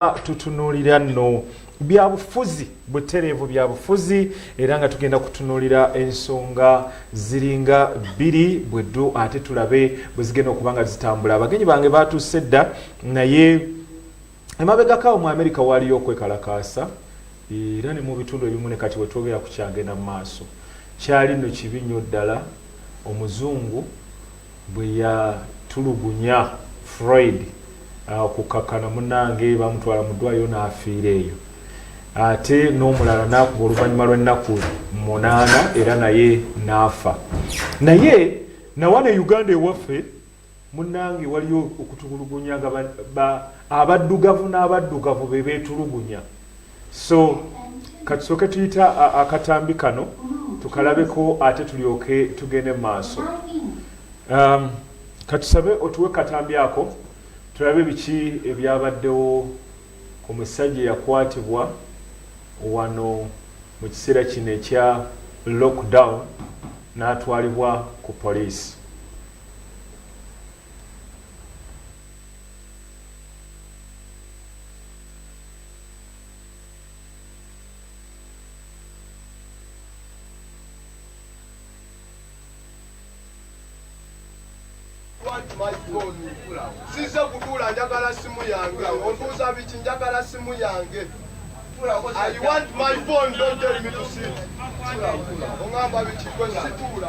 tutunulira no byabufuzi butereevu byabufuzi era nga tugenda kutunulira ensonga ziringa bbiri bweddu ate tulabe bwezigenda okuba nga zitambula abagenyi bange batuuse dda naye emabegakawo mu america waaliyo okwekalakaasa era ne mu bitundu ebimu ne kati wetwogera kukyagenda mu maaso kyali no kibi nnyo ddala omuzungu bwe yatulugunya Freud okukkakkana munnange baamutwala mu ddwaaliro n'afiira eyo ate n'omulala n'akuba oluvannyuma lw'ennaku munaana era naye n'afa naye nawana e uganda ewaffe munnange waliyo okutulugunya nga abaddugavu n'abaddugavu be beetulugunya so katusooke tuyita akatambi kano tukalabeko ate tulyoke tugende mu maaso um, katusabe otuwe katambi ako tulabe biki ebyabaddewo ku musajja eyakwatibwa wano mu kiseera kino ekya lockdown n'atwalibwa ku poliisi size kutuula njagala simu yange ontuuza biki njagala simu yange I want my phone, don't tell me to sit. Ongamba biki kwe situula.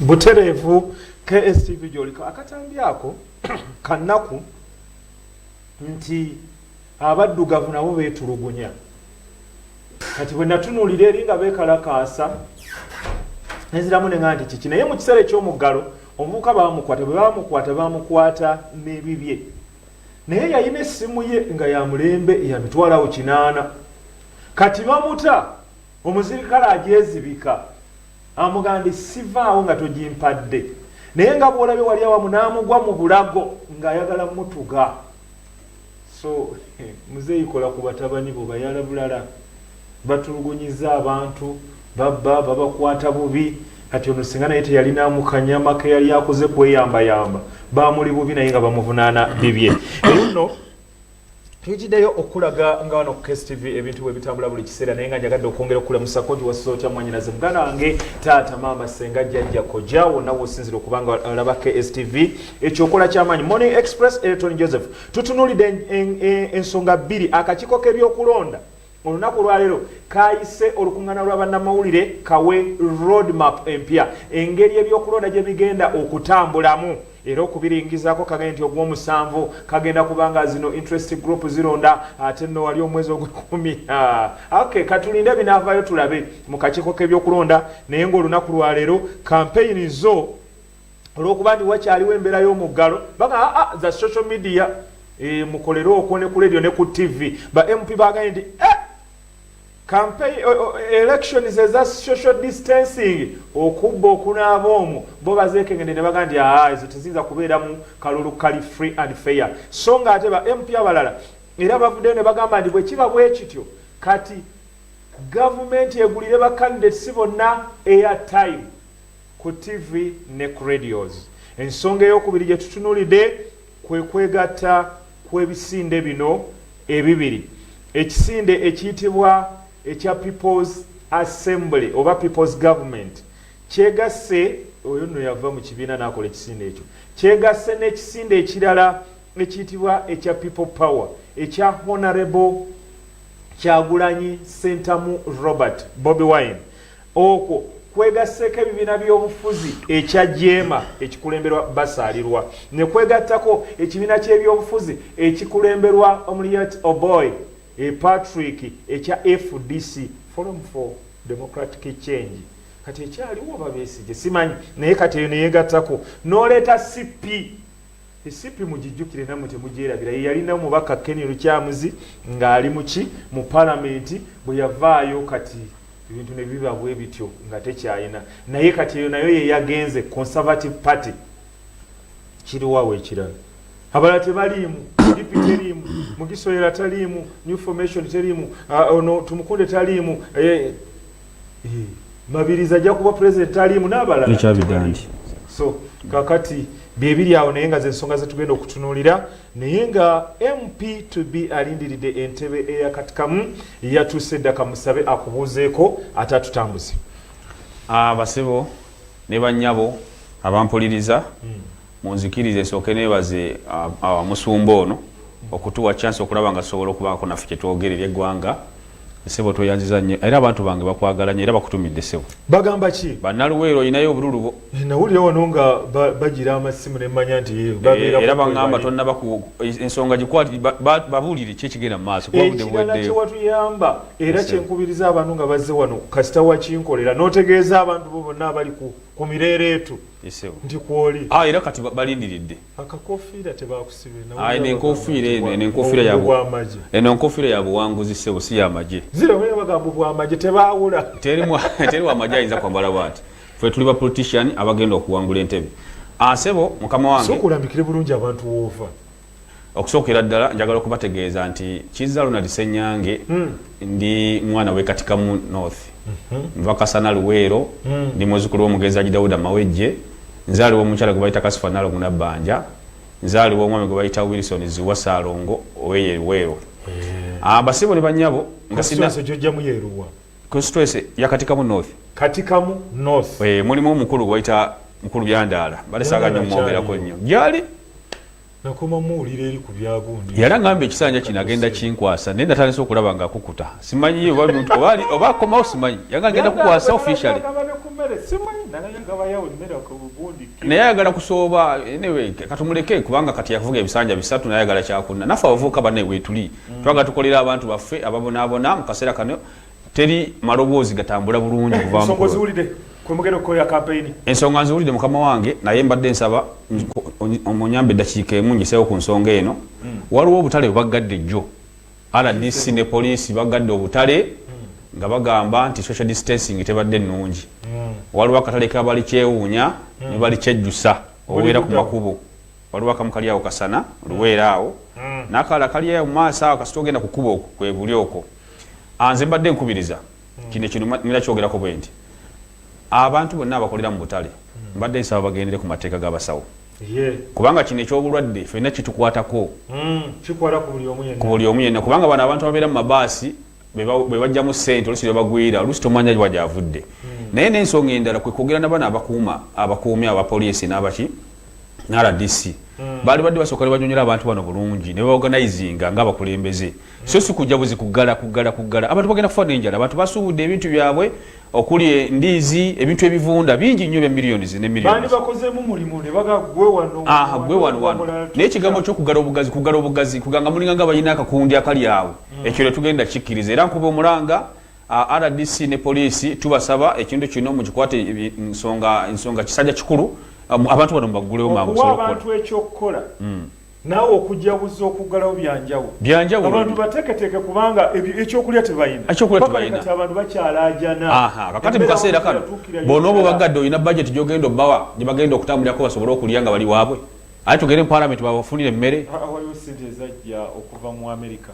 butereevu kstv gyoliko akatambi ako kanaku nti abaddugavu nabo betulugunya kati bwenatunulira eri nga bekalakaasa neziramu nega nti kiki naye mu kiseera ekyomuggalo omuvuka bamukwata bwebamukwata bamukwata nebibye Naye yalina essimu ye nga ya mulembe ya mitwalo kinaana. Kati bamuta, omuzirikale agyezibika. Amugambye, Sivaawo nga togimpadde. Naye nga bw'olabye wali awamu n'amugwa mu bulago ng'ayagala mutuga. So, muzeeyi kola ku batabani bo bayala bulala. batulugunyiza abantu babba babakwata bubi kati ono singa naye teyalina mukanyama keyali akoze kweyambayamba bamuli bubi naye nga bamuvunana bibye eyono tukideyo okulaga nga wano kstv ebintu bwebitambula buli kiseera naye nga njagadde okwongera okulamusa koji wasiza otya mwanyinaze muganda wange taata maama senga jajja koja wonna wosinzira okuba nga alaba kstv ekyokola kyamaanyi morning express ereton joseph tutunulidde ensonga bbiri akakiiko k'ebyokulonda Olunaku olwaleero kaayise olukungana lwa bannamawulire kawe road map empya engeri ebyokulonda gye bigenda okutambulamu era okubiringizaako kagende nti ogwomusanvu kagenda kuba nga zino interest group zironda ate nno wali omwezi ogwekumi ok katulinde binaavaayo tulabe mu kakiiko k'ebyokulonda naye ng'olunaku lwaleero kampeyini zo olwokuba nti wakyaliwo embeera y'omuggalo baga aa ah, ah, za social media e, mukolere okwo ne ku radio ne ku tv ba mp baganye nti eh, campaign elections eza social distancing okubba okunaaba omwo bo bazeekengende ne baga nti aa ah, ezo teziyinza kubeera mu kalulu kali free and fair so nga ate ba mp abalala era bavuddeyo ne bagamba nti bwe kiba bwe kityo kati gavumenti egulire ba candidates bonna eya time ku ttivi ne ku radios. Ensonga ey'okubiri gye tutunuulidde kwe kwegatta kw'ebisinde bino ebibiri, ekisinde ekiyitibwa ekya People's Assembly oba People's Government kyegasse, oyo nno yava mu kibiina n'akola ekisinde ekyo, kyegasse n'ekisinde ekirala ekiyitibwa ekya People Power ekya Honourable Kyagulanyi Ssentamu Robert, Bobi Wine. Okwo kwegasseeko ebibiina by'obufuzi ekya jeema ekikulemberwa Basaalirwa ne kwegattako ekibiina ky'ebyobufuzi ekikulemberwa Omuliat Oboi e Patrick ekya fdc, Forum for Democratic Change. Kati ekyaliwo oba Besigye simanyi naye kati eyo ne yeegattako n'oleeta CP. Mcp mugijjukire namwe temugyerabira yeyalina omubaka Ken Lukyamuzi ng'ali muki mu palamenti bwe yavaayo kati ebintu ne biba bwe bityo nga tekyayina naye kati eyo nayo yeyagenze conservative party kiriwawo ekirala abala tebaliimu dipi teriimu mugisoyera taliimu new formation teriimu ah, ono tumukunde taliimu eh, mabiriza ajja kuba president aliimu n'abalala ekyabidandi so kakati byebiri awo naye nga zensonga zetugenda okutunuulira naye nga mp to be alindiridde entebe eyakatikamu yatuuse dda kamusabe akubuuzeeko ate atutambuze abasebo ah, ne banyabo abampuliriza hmm. munzikiriza esooke nebaze musumba ono okutuwa chance okulaba nga tusobola okubaako naffe kyetwogera eri eggwanga sebo tweyanziza nnyo era abantu bange bakwagala nyo era bakutumidde sebo bagamba ki banaluweero olinayo obululu bo eh, nawulira wano nga bagira amasimu nemanya nti eh, era bagamba tonnaba ensonga gikwati babuulire ki ekigenda mumaaso ekirala kyewatuyamba era kyenkubiriza abantu nga bazze wano kasita wakinkolera notegeeza abantu bo bonna abali ku mireereetu nti kwoli ah, era kati balindiridde akakofiira tebakusibeeno enkofiira eno eno enkofiira yabwamagye eno enkofiira ya buwanguzi sebo si yamagye ziraoyo bagamba bwamagye tebaawula teri wamagye ayinza kwambala bwati fe tuli ba politician abagenda okuwangula entebe asebo ah, mukama wange sokulambikire bulungi abantu woova okusookera ddala njagala okubategeeza nti kizza ronald senyange hmm. ndi mwana wekatikamu north mhm. nva kasana luweero hmm. ndi muzukulu womugenzi aji dawuda mawejje nzaaliwo omukyala gwe bayita kasifa nalo munabbanja nzaaliwo omwami gwe bayita wilson ziwa saalongo oweye luweero eh. abasibo ah, ne banyabo nga sinna constituency ya katikamu north katikamu north eh mulimu omukulu gwaita mukulu byandaala bale saga nyo mwogera ko nyo yali nakoma muwulira eri ku byagundi yali angamba ekisanja kino agenda kinkwasa naye natandise okulaba nga akukuta simanyi ye oba muntu obali oba akomawo simanyi yanga agenda kukwasa officially naye ayagala kusooba anyway katumuleke kubanga kati yavuga ebisanja bisatu naye ayagala kyakunna naffe abavuuka banaye wetuli mm. twaga tukolera abantu baffe ababonabona mu kaseera kano teri maloboozi gatambula bulungi eh, ensonga nziwulidde mukama wange naye mbadde nsaba omunyamba eddakiika emu njesewo ku nsonga eno mm. waliwo obutale bwebaggadde jjo rdc ne poliisi baggadde obutale mm. nga bagamba nti social distancing tebadde nnungi waliwo akatale kabali kyewuunya nebali kyejjusa obeera ku makubo waliwo akamu kali awo kasana luweera awo mm. nakala kali awo maaso awo kasita ogenda kukuba okwo kwebuli okwo anze mbadde nkubiriza mm. kino kino mira kyogerako bwe nti abantu bonna abakolera mu butale mm. mbadde nsaba bagendere ku mateeka g'abasawo kubanga kino ekyobulwadde fenna kitukwatako ku buli omu yenna kubanga bano abantu ababeera mu mabaasi bwebajjamu sente olusi bebagwira olusi tomanya wa gyavudde hmm. naye nensonga endala kwekwogera nabana abakuuma abakuumi abapoliisi nabaki ne rdc hmm. baali badde basooka ne banyonyola abantu bano bulungi ne baorganizinga nga abakulembeze hmm. so si kujja buzi kuggala kuggala kuggala abantu bagenda kufa nenjala abantu basuubudde ebintu byabwe okuli endiizi ebintu ebivunda bingi nnyo bya millions ne millions aha gwe wano wano naye ekigambo kyokugala obugazi kugala obugazi kuganga mulinga nga balina akakundi akali awo hmm. ekyo letugenda kikkiriza era nkuba omulanga rdc ne poliisi tubasaba ekintu kino mukikwate nsonga kisajja kikulu abantu bano mubaggulewo mangu abantu ekyokukola hmm. Naawe okujaguza okuggalawo byanjawulo. Byanjawulo. Abantu bateeketeeke kubanga ekyokulya tebalina. Ekyokulya tebalina. Kati abantu bakyalaajana. Aha, kakati mu kaseera kano bonna oba obaggadde olina bajeti gy'ogenda obawa gye bagenda okutambulirako basobole okulya nga bali waabwe. Ate tugende mu palamenti babafunire emmere. Waliwo ssente ezajja okuva mu Amerika.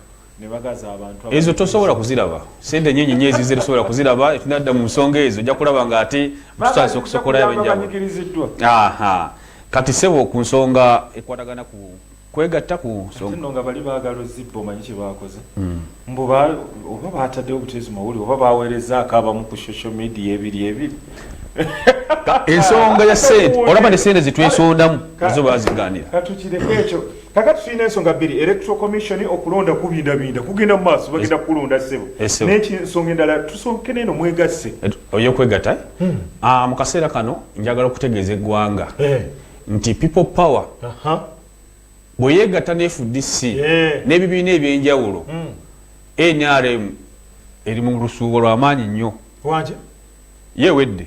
ezo tosobola kuziraba sente nyinyi nyo ezize tosobola kuziraba etunadda mu nsonga ezo ojja kulaba nga ate tutandisa okusokolayo abenjawulo kati sebo ku nsonga ekwatagana ku kwegatta ku nsonga bali baagala ozibba omanyi kye baakoze hmm. mbu oba baataddewo buteezi mawuli oba baaweerezaako abamu ku social media ebiri ebiri ensonga ya sente olaba ne sente zitwesondamu ezo bazigaanira katukireko ekyo kakati tulina ensonga bbiri electoral commission okulonda kubindabinda kugenda mu maaso bagenda kulonda ssebo eh, nekinsonga endala tusonkene eno mwegasse eh, oyokwegata eh? hmm. ah, mu kaseera kano njagala okutegeeza eggwanga nti people power bweyegatta ne fdc n'ebibiina ebyenjawulo hmm. nrm eri mu lusuubo lwamaanyi nnyo yewedde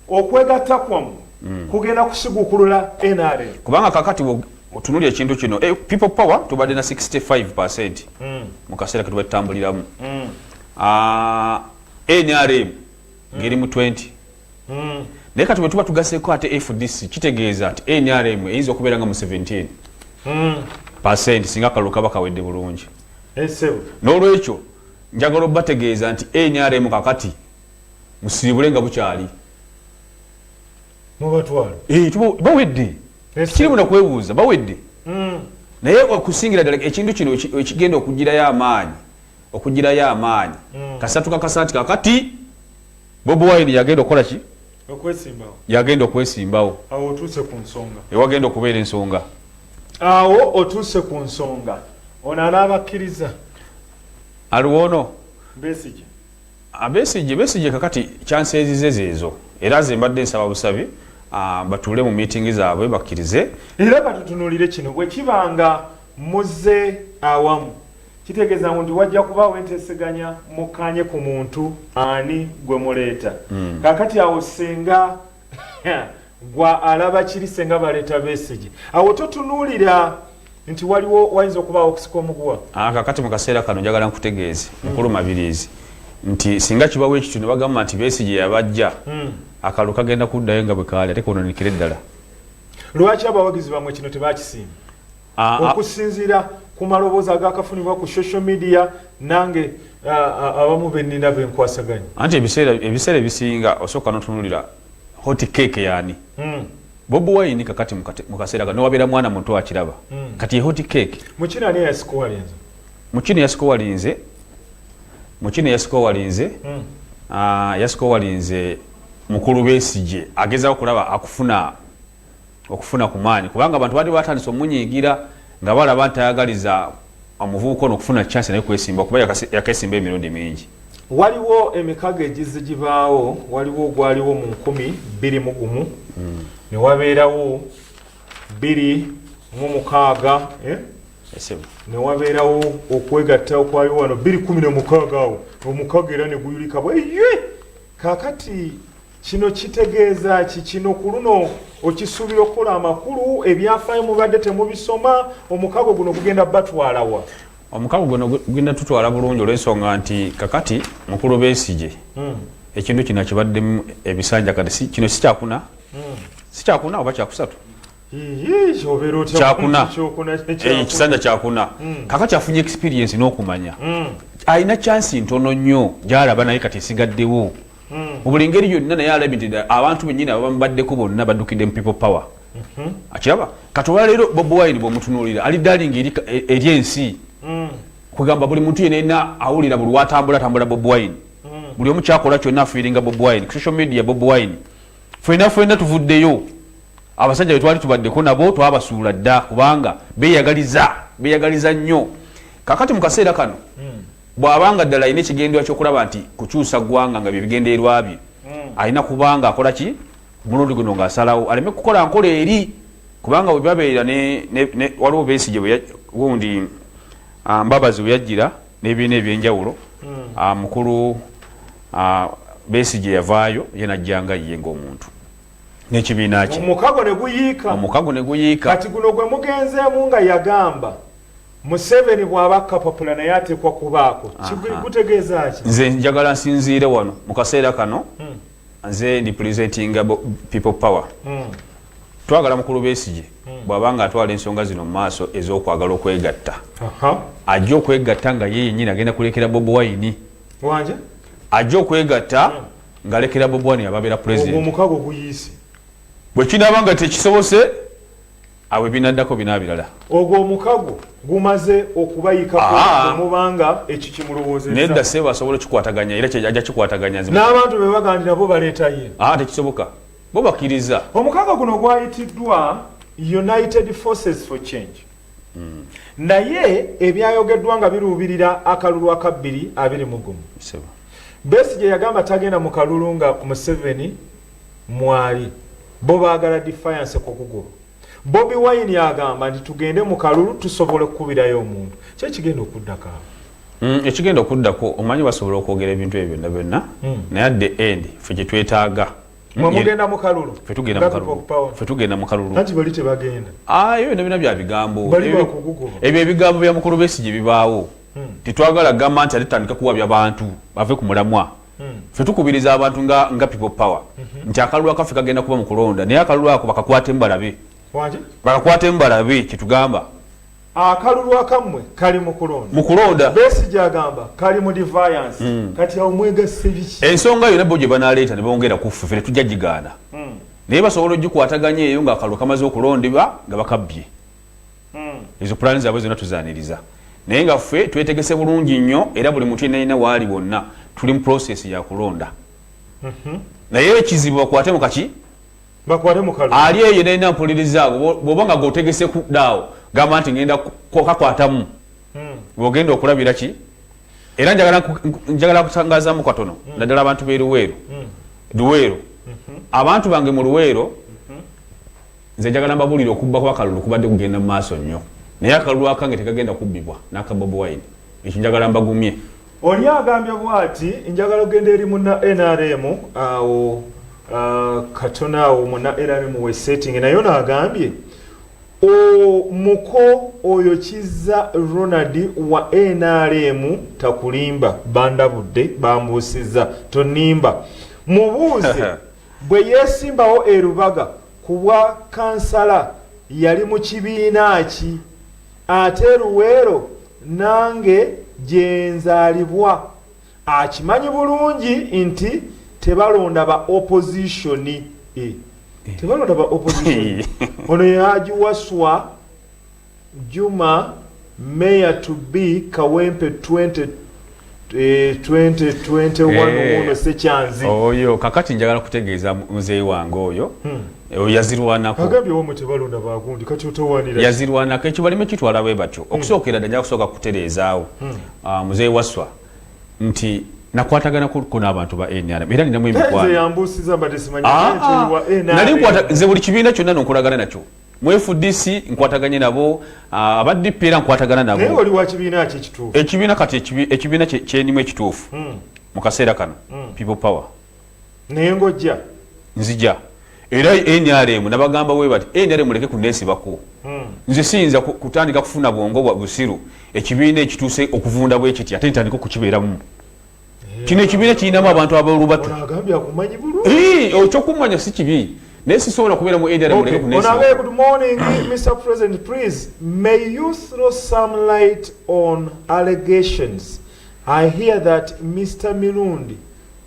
okwegatta kwamu mm. kugenda kusigukulula nrm kubanga kakati otunuli ekintu kino eh, people power tubadde na 65 percent mm. mu kaseera ketuba tutambuliramu mm. ah, nrm ngeri mu 20 naye kati bwetuba tugaseko ate fdc kitegeeza nti nrm eyinza okubeera nga mu 17 percent singa kalulu kaba kawedde bulungi eh, n'olwekyo njagala obategeeza nti nrm kakati musiribule nga bukyali mubatwalo eh, bawedde kirimu nakwebuuza bawedde hmm. naye okusingira ddala ekintu kino ekigenda okugirayo amaanyi okugirayo amaanyi hmm. kasatu kakasa nti kakati bobi wine yagenda okukola ki yagenda okwesimbawo awo otuuse ku nsonga ewagenda okubeera ensonga awo otuuse ku nsonga ono anaabakkiriza aliwo ono besigye Abesigye Besigye kakati kyanseezize zeezo era nze mbadde nsaba busabi ah, batuule mu miitingi zaabwe bakkirize. Era batutunulire kino bwe kiba nga muzze awamu kitegeeza ngu nti wajja kubaawo enteeseganya mukkaanye ku muntu ani gwe muleeta. Hmm. Kaakati awo ssenga gwa alaba kiri senga baleta besige awo totunulira nti waliwo wayinza okubaawo okusika omuguwa ah, kakati mu kaseera kano njagala nkutegeeze hmm. mukulu mabirizi nti singa kibawo ekityo ne bagamba nti besige yabajja hmm. akalulu kagenda kuddayo nga bwe kaali ate kononikire ddala lwaki abawagizi bamwe kino tebakisimba ah, ah. okusinziira ku maloboozi agakafunibwa ku social media nange ah, abamu benina benkwasaganya anti ebiseera ebisinga osooka notunulira hoti keeke yaani hmm. bobi wayini kakati mu kaseera ka nowabeera mwana muto akiraba hmm. kati yehoti keeke mukino ani yasikuwalinze mukino yasikuwalinze mukino yasikuwalinze hmm. yasikuwalinze mukulu besije agezaho kulaba akufuna okufuna ku maanyi kubanga abantu baadde batandise omunyiigira nga balaba nti ayagaliza omuvubuka ono okufuna chance naye kwesimba kuba yakesimba emirundi mingi waliwo emikago egizi gibaawo waliwo ogwaliwo mu nkumi bbiri mu gumu hmm. ne wabeerawo bbiri mu mukaaga eh? ne wabeerawo okwegatta okwaliwo wano bbiri kumi nomukaaga awo omukago era ne guyulika bweye kakati Kino kitegeeza ki? Kino ku luno okisuubira okukola amakulu ebyafaayo mubadde temubisoma omukago guno gugenda batwalawa? Omukago guno gugenda tutwala bulungi olw'ensonga nti kakati mukulu Besigye hmm. ekintu kino kibaddemu ebisanja kati kino si kyakuna hmm. si kyakuna oba kyakusatu kyakuna eh, ekisanja kyakuna hmm. kaka kyafunye experience n'okumanya alina chansi ntono nnyo gyalaba naye kati esigaddewo hmm. mubuli ngeri yonna naye alabi nti abantu benyini ababamubaddeko bonna baddukidde mu people power hmm. akiraba kati olwaleero bobi wine bwemutunuulira ali daling e, eri ensi hmm. kugamba buli muntu yenena awulira buli watambula tambula bobi wine buli omu kyakola kyonna afiiringa bobi wine ku social media bobi wine fena fena tuvuddeyo abasajja betwali tubaddeko nabo twabasuula dda kubanga beyagaliza beyagaliza nnyo kakati mu kaseera kano hmm. Bw'aba nga ddala alina ekigendererwa ky'okulaba nti kukyusa ggwanga nga bye bigendererwa bye, hmm. alina kuba ng'akola ki ku mulundi guno ng'asalawo aleme kukola nkola eri kubanga bwe babeera waliwo besigye gundi ah, mbabazi bwe yajjira n'ebibiina eby'enjawulo hmm. ah, mukulu ah, besigye yavaayo ye najja nga ye ng'omuntu n'ekibiina kye omukago ne guyiika kati guno gwe mugenzeemu nga yagamba Museveni bwaba kapapula naye atekwa kubaako kigutegeeza ki? Nze njagala nsinziire wano mu kaseera kano hmm. nze ndi presentinga people power hmm. twagala mukulu Besigye hmm. bwaba nga atwala ensonga zino mu maaso ez'okwagala okwegatta ajja okwegatta nga ye yennyini agenda kulekera Bobi Wine ajja okwegatta ng'alekera Bobi Wine ababeera president bwe kinaaba nga tekisobose Awo ebinaddako binabirala. Ogwo omukago gumaze okubayikako ah. omubanga ekyo kimulowoozezza. Nedda ssebo asobola okikwataganya era ajja kikwataganya. N'abantu be bagandi nabo baleeta ye. Ah, tekisoboka. Bo bakkiriza. Omukago guno gwayitiddwa United Forces for Change. Hmm. Naye ebyayogeddwa nga biruubirira akalulu akabbiri abiri mu gumu. Besigye yagamba tagenda mu kalulu nga Museveni mwali bo baagala defiance ku kugulu bobi wine agamba nti tugende mu kalulu tusobola okukubirayo omuntu kyo kigenda okuddako awo mm, ekigenda okuddako omanyi basobola okwogera ebintu ebyo byonna byonna mm. naye at the end fe gye twetaaga mwemugenda mukalulu fetugenda mukaluluayo ah, bino bina bya bigambo ebyo ebigambo bya mukulu besi gye bibaawo hmm. tetwagala gamba nti ate tandika kuwabya bantu bave ku mulamwa fe tukubiriza abantu nga nga people power mhm. nti akalulu akaffe kagenda kuba mu kulonda naye akalulu ako bakakwate mubalabe bakakwate mubalabe kyetugamba akalulu akammwe kali mu kulonda mu kulonda besi gyagamba kali mu deviance mm. kati awo mwegasse biki ensonga yona bo gye banaleeta ne bongera kuffe fe tetujja gigaana mm. naye basobola ogikwataganya eyo nga akalulu kamaze okulondebwa nga bakabbye hmm. ezo pulani zaabwe zonna tuzaniriza naye nga ffe twetegese bulungi nnyo era buli muntu yenayina waali wonna tuli mu prosesi yakulonda mhm. naye ekizibu bakwate mukaki ali eyo yenayina mpuliriza ago bwoba nga gotegese kudaawo gamba nti ngenda kakwatamu hmm. bwogenda okulabira ki era njagala kutangazamu katono hmm. naddala abantu beruweero hmm. luweero mhm. abantu bange mu luweero mhm. Nze njagala mbabulire okubba kwa kalulu kubadde kugenda mu maaso nnyo naye akalulu akange tegagenda kubbibwa n'aka Bobi Wine. Ekyo njagala mbagumye. Oli agambye bwati njagala ogenda eri muna nrm awo katona awo muna nrm we setting naye ono agambye omuko oyo kizza ronald wa nrm takulimba bandabudde bambuusiza tonimba mubuuze Bwe yeesimbawo e Lubaga ku bwa kansala yali mu kibiina ki? Ate e Luweero nange gye nzaalibwa akimanyi bulungi nti tebalonda ba opozisoni. Eh, tebalonda ba opozisoni. Ono Haji Waswa. Juma mayor to be kawempe 20 2021 eh, sekyanzi oyo kakati njagala kutegeeza muzeeyi wange oyo hmm. oyo yazirwanakooyazirwanako ekyo balime kitwala bwe batyo hmm. okusookera dda nja kusooka kutereezaawo hmm. ah, muzeeyi waswa nti nakwatagana kuko n'abantu ba nrm era ninamu emikwano ah, ah. nze buli kibiina kyonna nonkolagana nakyo mu fdc nkwataganye nabo ah, aba dp era nkwatagana nabo ekibiina kati ekibiina kyenimu ekituufu hmm. mu kaseera kano hmm. people power naye ngojja nzija era nrm nabagamba webati nrm leke kunesibako hmm. nze siyinza kutandika kufuna bwongo bwa busiru ekibiina ekituuse okuvunda bwekiti ate ntandika okukibeeramu kino ekibiina kirinamu abantu abolubatu okyokumanya si kibi naye sisobola kubeera mu area muleke kunonabee good morning mr president please may you throw some light on allegations i hear that mr mirundi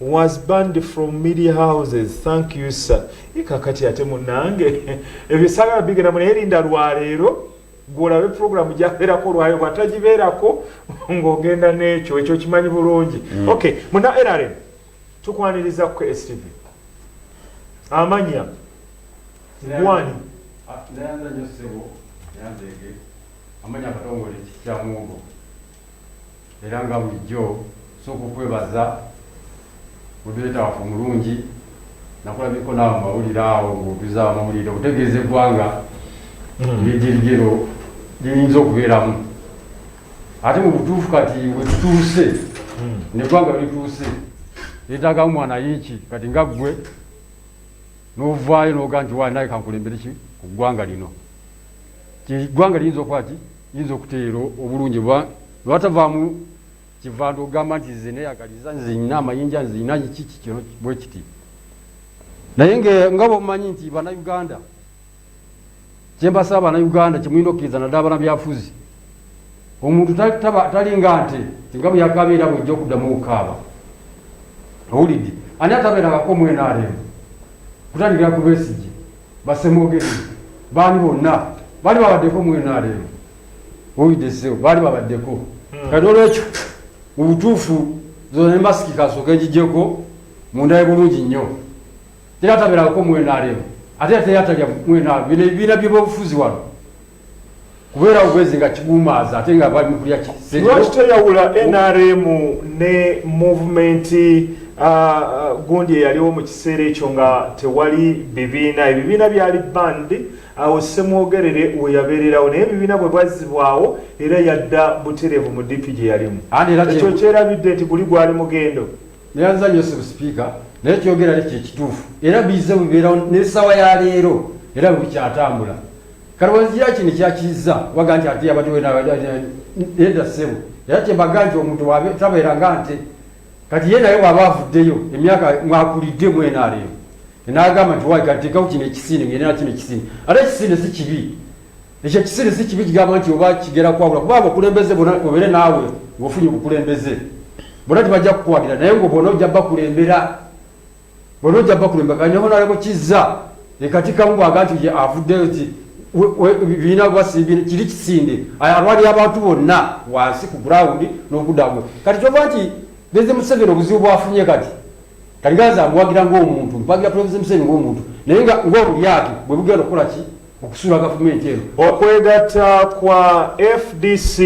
was banned from media houses thank you sir ikakati ate munange ebyo sagala bigenda munaye linda lwaleero gwolabe program gyaberako lwayo bwatagibeerako ng'ogenda n'ekyo ekyo kimanyi bulungi mm. ok muna nrm tukwaniriza ku stv amanya gwani ah, Era nga bulijjo nsooka okwebaza moderator waffe omulungi, nakulabyeko naawe mu mawulire awo ng'otuza amawulire okutegeeza eggwanga engeri gyerigero liyinza okubeeramu ate mu butuufu kati wetutuuse neggwanga werituuse lyetaagamu mwana yiiki kati nga ggwe n'ovaayo n'oga nti waali naye kankulembere ki ku ggwanga lino ti ggwanga liyinza okuba ki yinza okuteera obulungi oba lwatavaamu kivanda ogamba nti nze neyagaliza nze nyina amayinja nze nyina kiki kino bwe kiti naye nga bwomumanyi nti banauganda kyembasaba banauganda kyemulina okkiriza naddala bana byafuzi omuntu talinga nti tinga bweyakabeera bwejja okuddamu okukaaba owulidde ani atabeerangako omwenaremu kutandikira ku besigi Basemwogere baani bonna baali babaddeko mu NRM owulidde ssebo baali babaddeko hmm. kati olwekyo mu butuufu zona ne masiki kasooka egigyeko mundaye bulungi nnyo tera tabeerako mu NRM ate era teri atalya mu NRM bino ebibiina by'ebyobufuzi wano kubeera bwezi nga kigumaaza ate nga bali mukulya lwaki toyawula nrm ne movement uh, uh, gundi eyaliwo mu kiseera ekyo nga tewali bibiina ebibiina byali band awo semwogerere weyabeererawo naye ebibiina bwe bwazzibwawo era yadda butereevu mu dipi gye yalimu ekyo kyerabidde nti guli gwali mugendo neyanza nyo sibusipiika naye kyogera ne kyekituufu era bize bibeerawo n'essaawa ya leero era bwebikyatambula Kalowoozi ya kino kyakizza waga nti ate yabadde wena eda ssebo era kyebaga nti omuntu tabeera nga nte kati ye naye waba avuddeyo emyaka mwakulidde mwenaaleero nagamba nti wai katekawo kino ekisiine ngenda nakino ekisiine ate ekisiine si kibi ekyo ekisiine si kibi kigamba nti oba kigera kwawula kuba abakulembeze bona obeere naawe ngaofunye obukulembeze bona tibajja kukuwagira naye ngaobona ojja bakulembera Bona ojja bakulu embaga ne honalebo kizza ekatikkamu bwaga nti ye avuddeyo ti biina gwasibi kiri kisinde alwalira abantu bonna wansi ku ground n'okuddamu kati kyova nti Pulezidenti Museveni obuzibu bwafunye kati kaliganza amuwagira ng'omuntu mpagira Pulezidenti Museveni ng'omuntu naye nga ng'obulyake bwe bugenda okukola ki okusula gavumenti eno. Okwegatta kwa FDC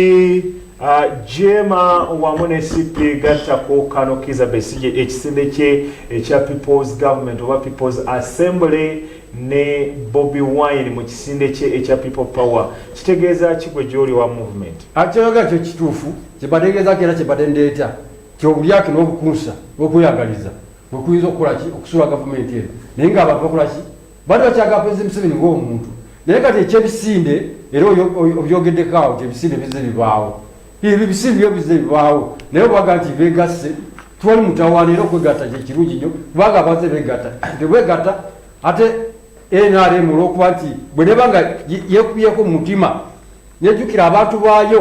uh, Jema wamu ne CP gatta ku Kano Kiza Besigye ekisinde kye ekya People's Government oba People's Assembly ne Bobby Wine mu kisinde kye ekya People Power kitegeeza ki gwe gy'oli wa movement? Akyoga ah, kyo kituufu kye bategeeza kera kye batendeeta kyobulyake n'obukunsa n'okweyagaliza bwe kuyinza okukola ki okusula gavumenti eno naye ng'abantu bakola ki Bali bakyaga Pulezi Museveni ng'omuntu naye kati ekyebisinde era obyogeddeko awo nti ebisinde bizze bibaawo. Ebyo bisinde byo bizze bibaawo naye obaga nti beegasse twali mutawaana era okwegatta kye kirungi nnyo kubanga abantu tebeegatta tebeegatta ate NRM olw'okuba nti bwe neba nga yeekubyeko mu mutima nejjukira abantu baayo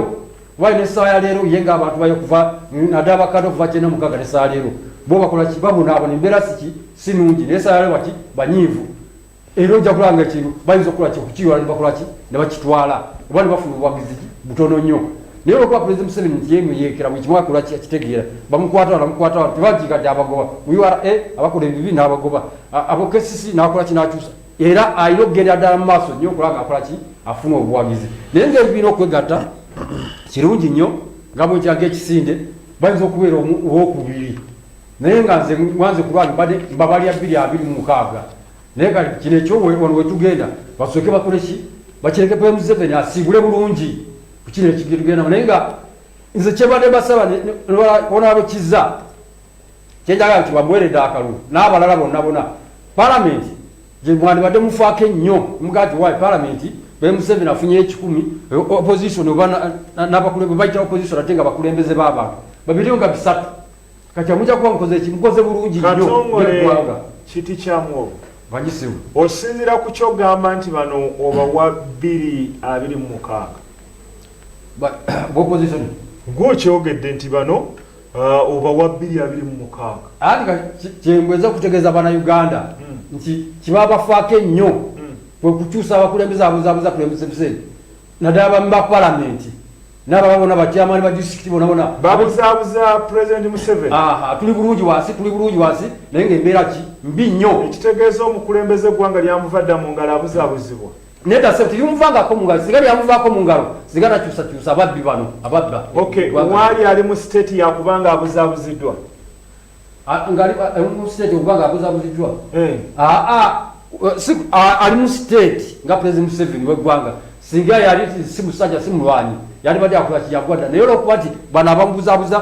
Why ne saya lero yenga abantu bayo kuva nadaba kado kuva chena mukaga ne saya lero bo bakola kibabu nabo ne mbera siki sinungi ne saya lero wati banyivu ero ja kulanga kintu bayizo kula ki kuchiwa ne bakola ki ne bakitwala obali bafuna obwagizi butono nyo ne ro kwa president Museveni nti yemu yekera mu kimwa kula ki akitegera bamukwata na mukwata tibajika dabagoba uyu ara e abakole bibi nabagoba abokesisi nakola kinachusa era alina okugendera ddala mu maaso nnyo okulaba ngaakola ki afuna obuwagizi naye ngeri birina okwegatta kirungi nnyo nga bwekiraga ekisinde bayinza okubeera owokubiri naye nga nze wanze kulwange mbadde mbabalya bbiri abiri mu mukaaga naye kati kino ekyowano wetugenda basooke bakole ki bakireke pe museveni asiibule bulungi kukino ekigitugendamu naye nga nze kyebadde basaba onaabekizza kyenjaga nti bamuweredde akalulu n'abalala bonna bona palamenti gyemwandibadde mufaako ennyo mugati wa palamenti bemuseveni afunye ekikumi opposition oba nabakulembeze bayita opposition ate nga bakulembeze b'abantu babiri nga bisatu kati amuja kuba mukoze eki mukoze bulungi nnyoeggwanga kiti kyamu bagisimu osinzira ku kyogamba nti bano obawa bbiri abiri mu mukaaga opposition gwokyogedde nti bano Uh, oba wa bbiri abiri mu mukaaga anti kyembweza okutegeeza bana uganda hmm. nti kibabafaako ennyo hmm. kwe kukyusa abakulembeze abuzabuza kulembeze museveni naddala bami ba palamenti nababa bona batyamani ba district bona bona babuzabuza president museveni tuli bulungi wansi tuli bulungi wansi naye ngaembeera ki mbi nnyo ekitegeeza omukulembeze eggwanga lyamuvadda mu ngalo abuzabuzibwa Neda sente yumvanga ko munga zigari yamuva ko mungaro zigara chusa chusa ababbi bano ababba okay wali ali mu state ya kubanga abuza buzidwa ah, ngari ah, eh, mu state kubanga abuza buzidwa eh a ah, a eh, si ali mu state nga president Museveni we gwanga singa yali si musaja si mulwani yali badi akula kiyagwada nayo lokwati bana bambuza buza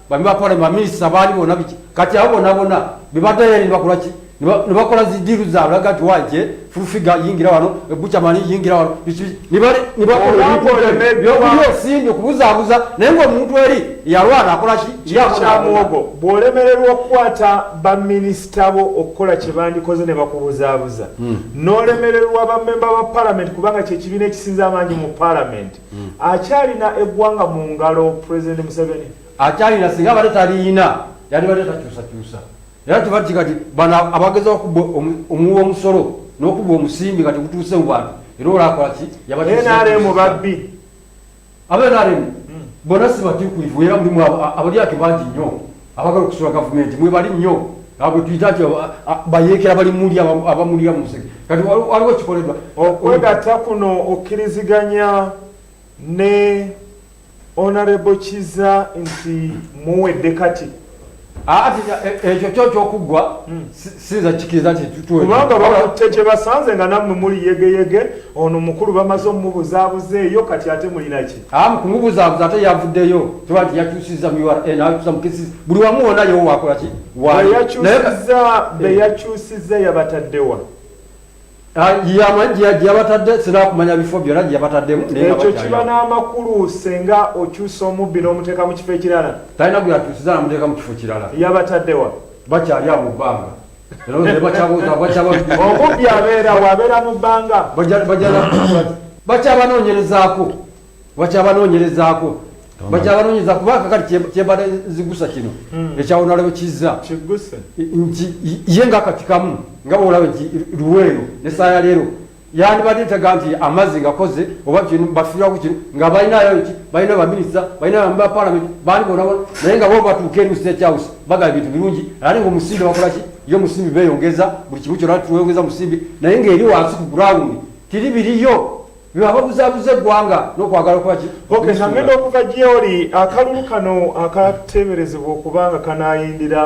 bami ba parliament baminisita baali bona biki kati abo bona bona bebadayali nibakolaki nibakola zidiru zaabwe laga nti wanje fulfiga yingira wano ebucamani yingira wano nibakolebyobuyosimbi okubuzabuza naye nga omuntu eri yalwana akolaki kyamuwogo bwolemererwa okukwata baminisita bo okukola kyebandikoze ne bakubuzabuza hmm. nolemererwa bamemba ba palamenti kubanga kyekibiina ekisinza amaanyi mu palamenti hmm. akyalina eggwanga mu ngalo president museveni akyalina singa abadde taliyina yalibadde takyusakyusa era tebati kati bano abageza okuba omuwa omusolo n'okuba omusimbi kati gutuuse mu bantu era olakolaki yabanrm babbi abenrm hmm. bona sibatukuivu era mulimu abalyake bangi nnyo abagala okusula gavumenti mwebali nnyo abo tuyita nti bayeekera bali muli abamulira mu musege kati waliwo kikoledwa okwegatta kuno okkiriziganya ne onarebo kiza nti muwedde kati ati e, e, ekyo kyo kyokuggwa hmm. sinza kikiriza kubanga bakutte kyebasanze nga nammwe muli yegeyege ono mukulu bamaze omumubuzabuza eyo kati ate mulinaki amu kumubuzabuza ate yavuddeyo tuba nti yakyusiza mu ura nakyusa mukisi buli wamu wona yewo wakolaki wayakyusiza beyakyusiza yabataddewa Ah, gyeyabatadde sina kumanya bifo byona gyeyabataddemu ekyo kiba n'amakulu senga okyusa omubbi n'omuteeka mu kifo ekirala talina gweyakyusiza namuteeka mu kifo kirala yabataddewa bakyali abo bbanga omubbi abeerawo abeera mu bbanga bakyabanoonyerezaako bakyabanoonyerezaako bakyabanoonyeza kuba kakati kyebada zigusa kino hmm. ekyawonalabo kizza nti ye nga kati kamu nga bwolaba nti luweero nesaaya leero yandibadde ntaga nti amazzi ngakoze oba kino bafirako kino nga balinayo ki balina baminisita balina bapalamenti bandi bonabona naye nga bobatuuka eri mustate house bagala ebintu birungi ate nga omusimbi bakolaki yo omusimbi beyongeza buli kimu kyona tuweyongeza musimbi naye ngaeri wansi ku ground tiri biriyo Lwe ababuzabuza eggwanga n'okwagala okuba ki? Ok, nangenda okuva gyoli. Akalulu kano akateeberezebwa okuba nga kanaayindira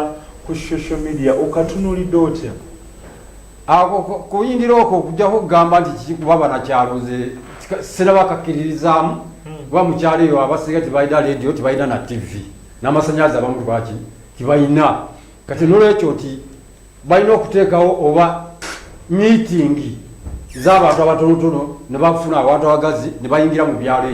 ku social media okatunulidde otya? Ako kuyindira okwo okujjako okugamba nti kiki kuba banakyalo nze siraba kakkiririzaamu hmm. kuba mukyalo eyo abasinga tebalina leediyo tebalina na ttivi n'amasannyalaze abamu lwaki tibalina kati nolwekyo nti Balina okuteekawo oba miitingi z'abantu abatonotono ne bafuna abantu abagazi ne bayingira mu byalo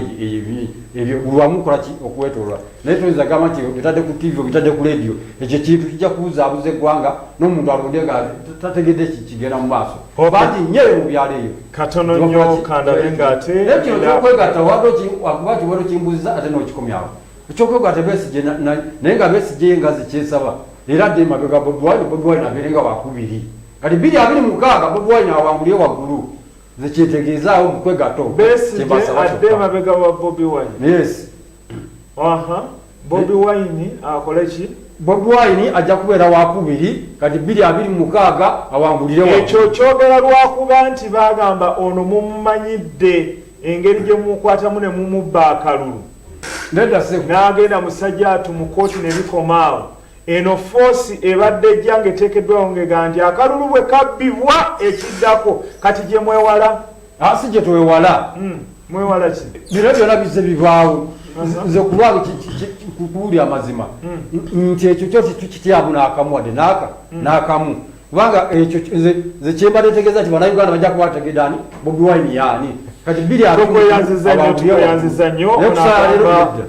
ebyo buli wamu kukolaki okuwetoolola naye toyinza gamba nti obitadde ku tiivi obitadde ku leediyo ekyo ekintu kijja kubuzaabuza eggwanga n'omuntu alonde nga tategedde kigenda mu maaso bangi nnyo eyo mu byalo eyo katono nnyo kandabe ng'ate naye kino kyokwegatta wadde okuba kiwero kimbuziza ate n'okikomyawo ekyokwegwata besigye naye nga besigye ye ngazi kyesaba era adde emabega bobiwine bobiwine abeere nga wakubiri kati biri abiri mukaaga bobiwine awangulye waggulu nze kyetegeezaawo mukwegato besigye adde emabega wa bobiwine yes aha bobiwine akole ki bobiwine ajja kubeera wakubiri kati biri abiri mukaaga awangulire ekyo kyogera lwakuba nti bagamba ono mumumanyidde engeri gye mumukwatamu ne mumubba akalulu n'agenda musajjaatu mu kkooti ne bikoma awo eno foosi ebadde ejja ng'eteekeddwawo ng'egamba nti akalulu bwe kabbibwa ekiddako kati gye mwewala ah, si gye twewala hmm, mwewala ki bino byona bizze bibaawo nze kulwalo kuwulira amazima hmm. nti ekyo kyo kikityamu n'akamu wadde n'aka hmm. n'akamu kubanga ekyo nze kyembadde ntegeeza nti banauganda bajja kuba bategedde ani bobi wine yaani kati biri tukweyanziza nnyo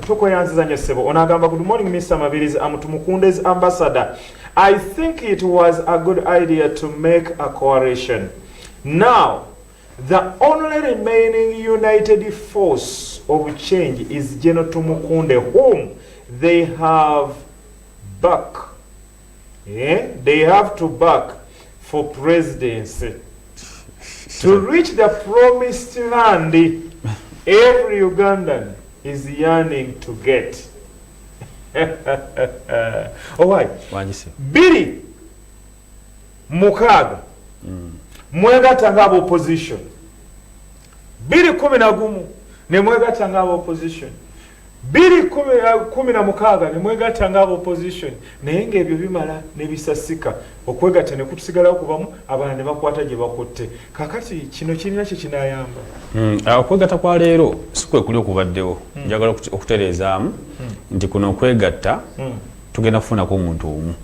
tukweyanziza nnyo ssebo onagamba good morning mr mabirizi amutumukundezi ambassador i think it was a good idea to make a coalition now the only remaining united force of change is general tumukunde whom they have back Eh, they have to back for presidency to reach the promised land every ugandan is yearning to get owai oh, biri mukaaga mm. mwegata nga abaopposition biri kumi na gumu nemwegata nga abaopposition Bbiri kumi na mukaaga ne mwegatta nga aba opposition naye nga ebyo bimala ne bisasika okwegatta ne kutusigalawo kubamu abalala ne bakwata gye bakutte kakati kino kirina kye kinayamba hmm, ah, okwegatta kwa leero si kwe kuli okubaddewo hmm. njagala okutereezaamu hmm. nti kuno okwegatta tugenda kufunako omuntu omu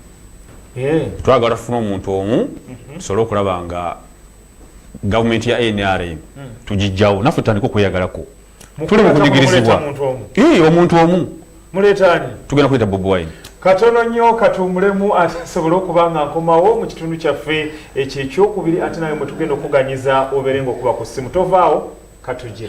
eh. twagala tufuna omuntu omu mhm. tusobole okulaba nga gavumenti ya nrm tugijjawo naffe tutandika okweyagalako tuli mukunyigirizibwa omuntu omu muleetani tugenda kuleeta bob wine katono nnyo katuumulemu asobole okuba nga nkomawo mu kitundu kyaffe ekyo ekyokubiri ate nawe mwetugenda okuganyiza obeere nga okuba ku ssimu tovaawo katuje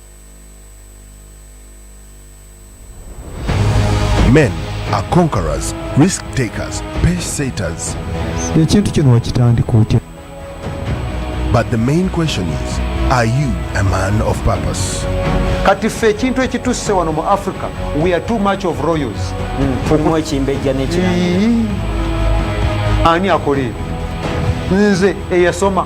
Men are conquerors, risk takers, pace setters. ekintu kino wakitandika otya But the main question is, are you a man of purpose? kati ffe ekintu ekitusse wano mu africa we are too much of royals tulimu ekimbejja nekirala Ii. ani akola ebyo nze eyasoma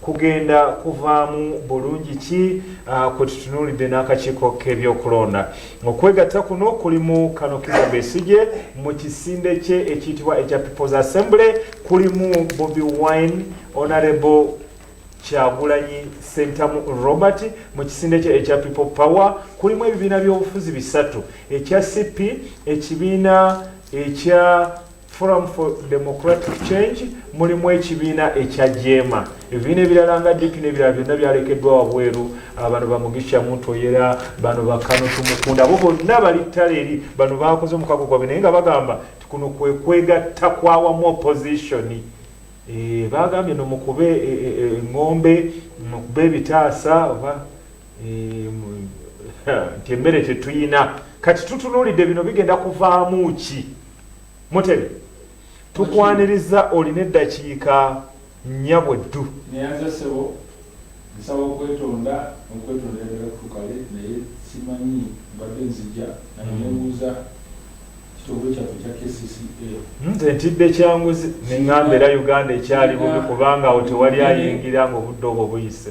kugenda kuvaamu bulungi ki ah, kwe tutunuulidde n'akakiiko k'ebyokulonda okwegatta kuno kulimu kano kiza besigye mu kisinde kye ekiyitibwa ekya peoples assembly kulimu bobi wine honorable kyagulanyi sentamu robert mu kisinde kye ekya people power kulimu ebibiina by'obufuzi bisatu ekya cp ekibiina ekya Forum for Democratic Change mulimu ekibiina ekya jeema ebibiina ebirala nga dipi n'ebirala byonna byalekeddwa wabweru ah, bano bamugisha muntu oyera bano bakano tumukunda abo bonna bali ttala eri bano bakoze omukago gwabwe naye nga bagamba ti kuno kwekwegatta kwawamu opozitioni eh, bagambye no mukube eŋŋombe eh, eh, mukube ebitaasa oba nti emmere tetuyina kati tutunuulidde bino bigenda kuvaamu ki Mutebe tukwaniriza olina eddakiika nnyabwe ddu. Neyanza ssebo nsaba okwetonda nokwetonda ayagala kutukale naye simanyi mbadde nzija naye nembuuza kitongole kyaffe ekya kcca. Nze ntidde kyanguzi nengamba era Uganda ekyali bubi kubanga awo tewali ayingira nga obudde obwo buyise.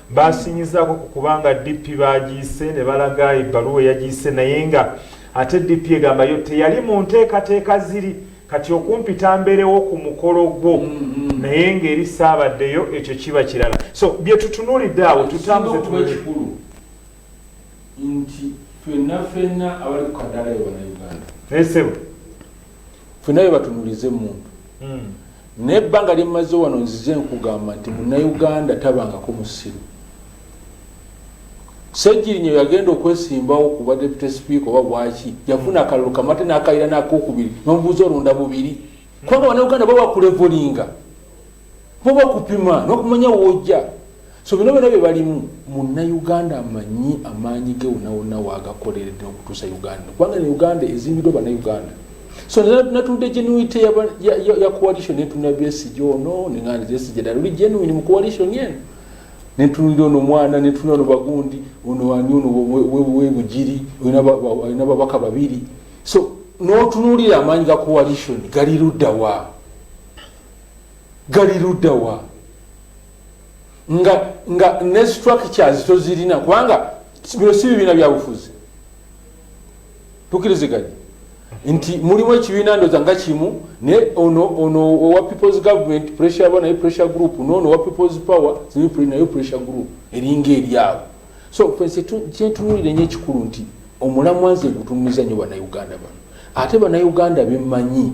Baasinyizaako ku kuba nga DP baagiyise ne balaga ebbaluwa eyagiyise naye nga ate DP egamba yo teyali mu nteekateeka ziri kati okumpita mbeerewo ku mukolo gwo naye ng'eri ssaabaddeyo ekyo kiba kirala. So bye tutunuulidde awo tutambuze tunule. nti fenna fenna abali ku kadaala ye banauganda naye sebo fena bebatunulize muntu hmm. naye ebbanga lyemmaze wano nzize nkugamba nti munauganda tabangako musiru sejirinyo yagenda okwesimbawo kuba deputy speaker oba bwaki yafuna akalulu kamate nakayira nakokubiri nomubuuza olonda bubiri kubanga banauganda bawakulevolinga Kuba kupima n'okumanya w'ojja. So bino byona bye balimu munnayuganda amanyi amaanyi ge wona wonna waagakoleredde n'okutuusa Uganda. Kubanga ne Uganda ezimbiddwa bannayuganda. So natunudde genuity ya coalition netunula Besigye ono neng'anda Besigye dala oli genuine mu coalition eno. Netunulira ono mwana netunula ono bagundi ono ani ono webugiri olina babaka babiri. So n'otunuulira amaanyi ga coalition gali ludda wa? gali ludawa nga nga ne structures tozirina kubanga bino si bibiina byabufuzi tukiriziganye nti mulimu ekibiina ndoza nga kimu naye ono ono owa peoples government pressure ba naye pressure group noono owa peoples power naye pressure group eringa eryabo so fense kyentunulire nyo ekikulu nti omulamwa nze gutunuliza nyo banauganda bano ate banauganda bemanyi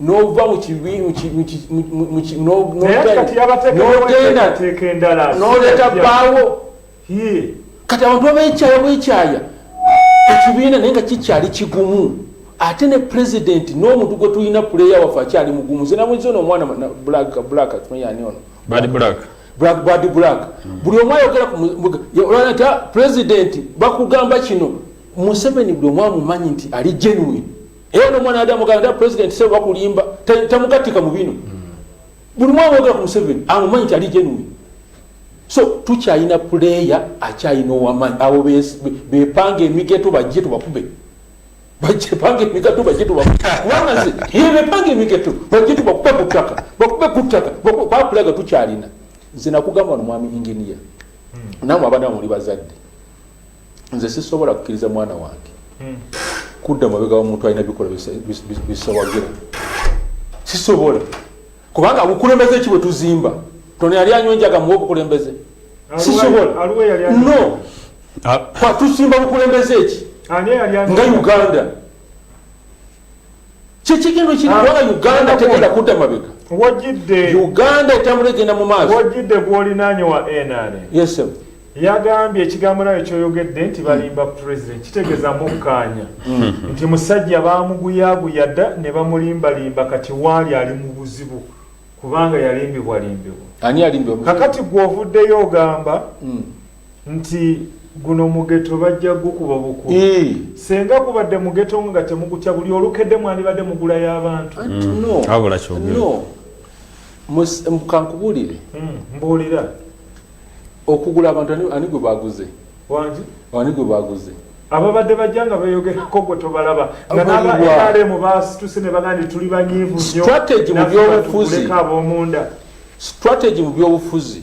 nova mukibinogenda bawo kati abantu babekyaya bwekyaya ekibiina naye nga kikyali kigumu ate ne president n'omuntu gwe tulina puleya waffe akyali mugumu nze namwezi ono omwana blackmanyani ono badi black buli omu ayogera olwanati president bakugamba kino museveni buli omu amumanyi nti ali genuine era nomwana yadde amugamba nda president sebo bakulimba tamugattika mu bino buli mwana wogera ku museveni amumanyi nti ali genuine so tukyalina puleya akyalina owamanyi abo bepanga emigeto bajje tubakube bajepanga emigato bajje tubakubanga ze bepanga emigeto bajje tubakube ku ttaka bakube ku ttaka bakulaga tukyalina nze nakugamba no mwami inginiya hmm. namwe abana muli bazadde nze sisobola kukkiriza mwana wange hmm. kudda mabega wa muntu alina bikola bisawagira sisobola kubanga bukulembeze ki bwe tuzimba toni yali anywa enjaga muwa obukulembeze sisobola no ah. kwatusimba bukulembeze ki nga uganda kyekigendo kiri ah, kubanga uganda tegenda kudda mabega wojidde uganda etambula egenda mu maaso wojidde gwolinanye wa nra yes yagambye ekigambo nayo kyoyogedde nti balimba president kitegeza mukkaanya hmm. nti musajja bamuguyaguya dda ne bamulimbalimba kati waali ali mu buzibu kubanga yalimbibwalimbibwa kakati gwovuddeyo ogamba hmm. nti guno mugeto bajja gukuba bukuba eh. senga gubadde mugeto nga temugutya buli olukedde mwandibadde mugula y'abantu kankubulire hmm, mbuulira okugula abantu ani gwe baguze ani gwe baguze ababadde bajja nga beyogerako gwe tobalaba nga nabamu basituse ne bagandi tuli banyiivu nyo abomunda strategy mu byobufuzi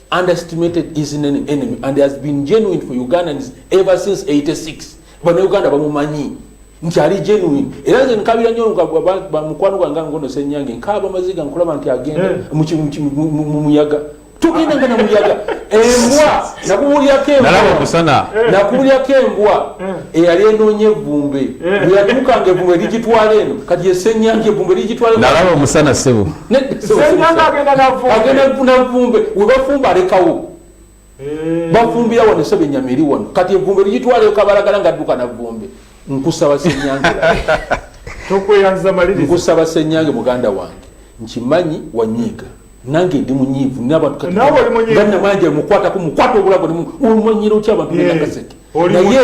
underestimated is an enemy and has been genuine for ugandans ever since 86 bana uganda bamumanyi nti ali genuine era nze nkabira nyo bamukwano gwange ngono senyange nkaba maziga nkulaba nti agenda eh. mu muyaga tugenda nga namuyaga embwa nakubulyako embwa eh. nakubulyako embwa eh. eyali enoonya evumbe bweyatuukanga evumbe ligitwala eno kati yesenyange evumbe ligitwala nalaba omusana sebo agenda kufuna nvumbe webafumba alekawo eh. bafumbira wano esaba enyama eri wano kati envumbe ligitwaleyo kabalagala nga adduka navumbe nkusaba senyange nkusaba senyange muganda wange nkimanyi wanyiiga nange ndi munyiivu nabantuganamanja mukwatako mukwata obulago omanyira otya abantu benakaseke naye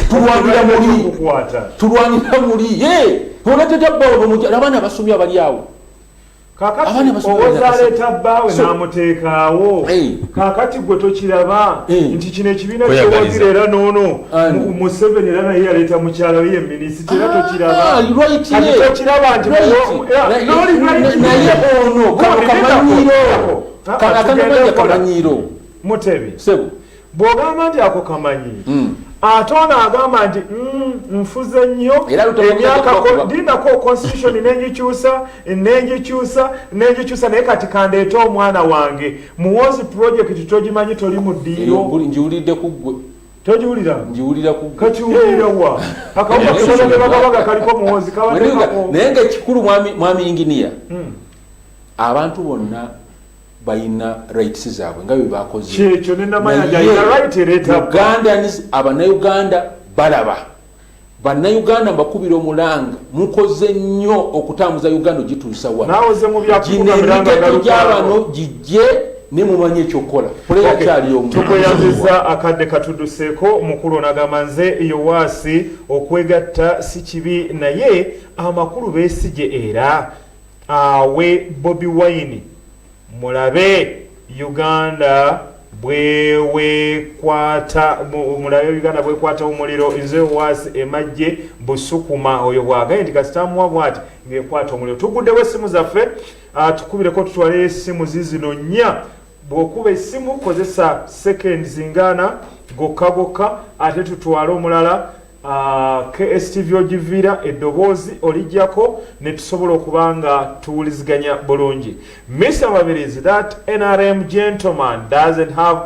tulwanira muli tulwanira muli ye onatetabbawo abaana basomye abali awo kakati owoza aleeta bbaawe n'amuteekaawo kakati gwe tokiraba nti kino ekibiina kyowagira era noono museveni era naye yaleeta mukyala we ye minisita era ah, tokirabakiraba ah, nti nolinaye ono kamanyiiro mutebi bw'ogamba nti ako kamanyi hmm. ate ono agamba nti mm, nfuze nnyo emyakadinako constitution nenjikyusa nenjikyusa nenjikyusa naye kati kandeete omwana wange muwozi project togimanyi toli mu ddiiro togiwulira ngiwulira kukakiwulira wa akawuaebagabaga kaliko muwozi naye nga ekikulu mwami inginiya hmm. abantu bonna balina rights zaabwe nga byebakozeugandans abanauganda balaba banauganda mbakubira omulanga mukoze nnyo okutambuza uganda ogituusa waginemigeto gyabano gijje ne mumanyi ekyokukola tukweyazizza akadde katuduseeko omukulu onagamba nze yowaasi okwegatta si kibi naye amakulu besigye era awe bobi wine mulabe uganda bwewekwata mulabe uganda bwekwata omuliro nze was emajje busukuma oyo bwagaye nti kasitamuwa bwati ngekwata omuliro tuguddewo esimu zaffe ah, tukubireko tutwale esimu zizino nya bwokuba esimu kozesa sekendi zingana gokka gokka ate tutwale omulala Uh, KSTV ogivira eddoboozi olijjako netusobola okuba nga tuwuliziganya bulungi Mr. Mabirizi that NRM gentleman doesn't have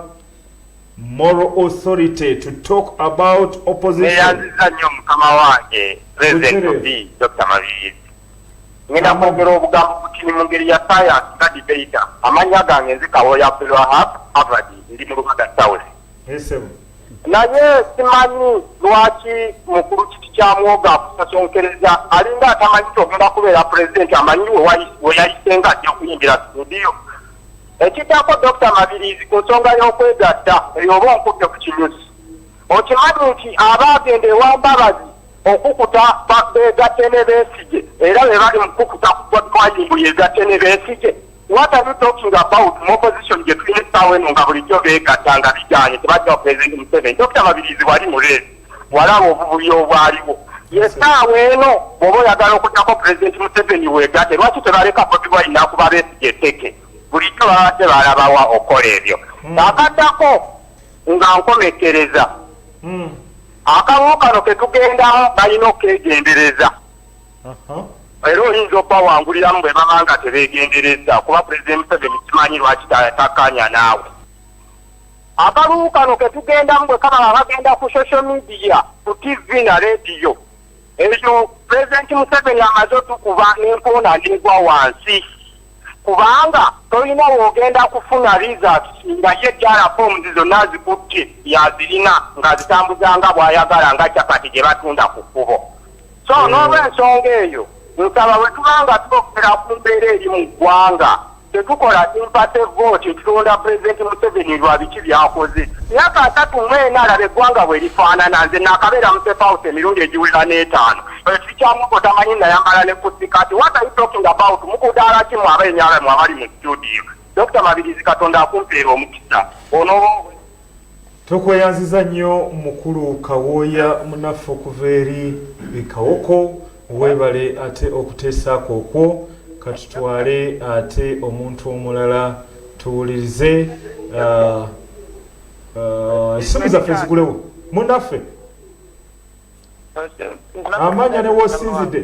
moral authority to talk about opposition nnyo mukama wange president of Dr. Mabirizi ngenda kwogera obugambo butini mu ngeri ya science nga debata amannya gange nzikawoya Abdulwahab Abadi ndi mu Lubaga South Naye simanyi lwaki mukulu kiti kya mwoga akusasonkereza alinga atamanyi kyogenda kubeera pulezidenti amanyi weyayise nga ajja kuyingira studio ekiddako dokita mabirizi ku nsonga y'okwegatta eyo oba onkudde ku kinyusi okimanyi nti aba agenda ewa mbabazi okukuta begatte ne beesige era be bali mukukuta ku botwayimbu yegatte ne beesige What are you talking about mu opposition gye tulina essaawa eno nga bulijjo beegatta nga bigaanye tebajja pulezidenti Museveni Dokita Mabirizi wali mu leesi walaba obuvubi obwaliwo yessaawa eno bw'oba oyagala okuttako pulezidenti Museveni weegatte lwaki tebaleka Bobi Wine n'akuba Besigye etteke bulijjo babadde balabawa okukola ebyo hmm. akaddako nga nkomekereza hmm. akamu kano ke tugendamu balina okwegendereza era oyinza okubawanguliramu bwe baba nga tebeegenderezza kuba Pulezidenti Museveni simanyi lwaki takkaanya naawe. Akalulu kano ke tugendamu bwe kaba nga kagenda ku sosho midiya, ku ttivi na leediyo, eyo Pulezidenti Museveni amaze otukuba n'enkoona n'egwa wansi kubanga tolina w'ogenda kufuna rizaati nga ye kyala foomuzi zonna azikutte y'azirina ng'azitambuza nga bw'ayagala nga capati gye batunda ku kkubo. so mm. n'olwensonga eyo nsaba bwe tuba nga tukokkera ku mbeera eri mu ggwanga tetukola simpate vooti ekitonda pulezidenti museveni lwa biki byakoze myaka asatu mwena alaba eggwanga bwe lifaanana nze nakabeera mu sefawusi emirundi egiwera n'etaano ekikyamuko tamanyi nayambala ne kusikati what are you talking about mukudaala kimu abenyala mu abali mu studio dokita mabirizi katonda akumpeera omukisa onoo Tukweyanziza nnyo mukulu Kawooya munaffe okuva eri e Kawoko webale ate okuteesaako okwo. Katutwale ate omuntu omulala tuwulirize essimu zaffe zigulewo munaffe amanya newosinzidde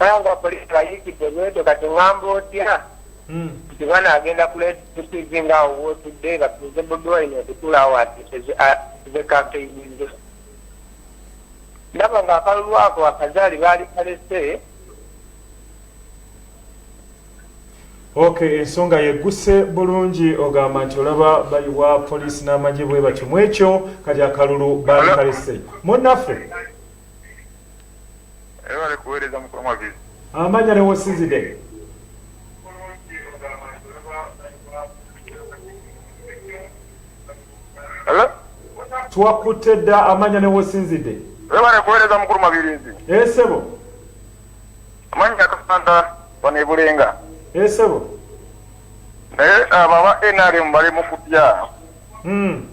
Nangwa police bayikidde bwedo kati ngamba otya nti bwana agenda kuletusizi nga awo wotudde batuuze budwaine okutula awo atuze kampeyinze ndaba nga akalulu ako akazaali baali kalese ok ensonga yegguse bulungi ogamba nti olaba bayiwa poliisi n'amagye bwe batyo mu ekyo kati akalulu baali kalese munnaffe Ebale kuweereza mukulu Mwagezi. Amanya ne wosinzide. Hello? Twakutte dda amanya ne wosinzide. Ebale kuweereza mukulu Mabirizi. Esebo. Eh, Amanya kasanta bano ebulenga. Esebo. Eh, Naye abo aba NRM bali mu kutya. Hmm.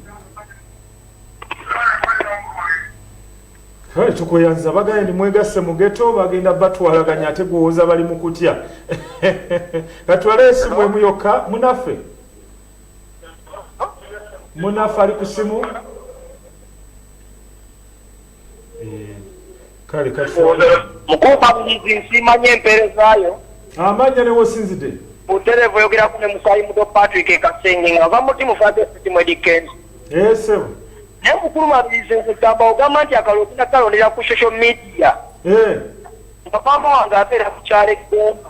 Hey, tukuyanza baganye ndi mwegasse mu geto bagenda batwalaganya ate gwowoza bali mu kutya katwala esimu emu yokka munaffe munaffe ali ku simu kale mukuuma buyizi nsiimanya empeerezaayo amanya newosinzide buterevu oyogeraku ne musaayi muto patrick ekasenge nga va muti mufade sitimu edikenzi esebo eh, naye mukulu mabirizi nkugamba ogamba nti akalulu tunakalondera ku social media eh. nga maama wange abeera ku kyalo eggomba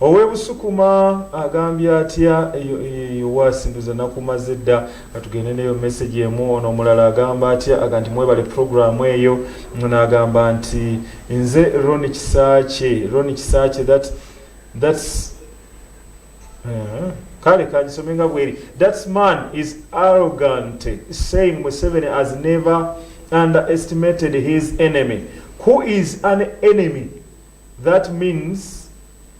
Ow'e Busukuma agambye atya? Eyo eyo eyo waasi nduza nakumaze dda. Katugende neyo message emu. Ono omulala agamba atya? Aga nti mwebale program eyo. Ono agamba nti nze Ronnie Kisaakye, Ronnie Kisaakye that that's uh, kale kanjisome nga bweri that man is arrogant saying museveni has never underestimated his enemy who is an enemy That means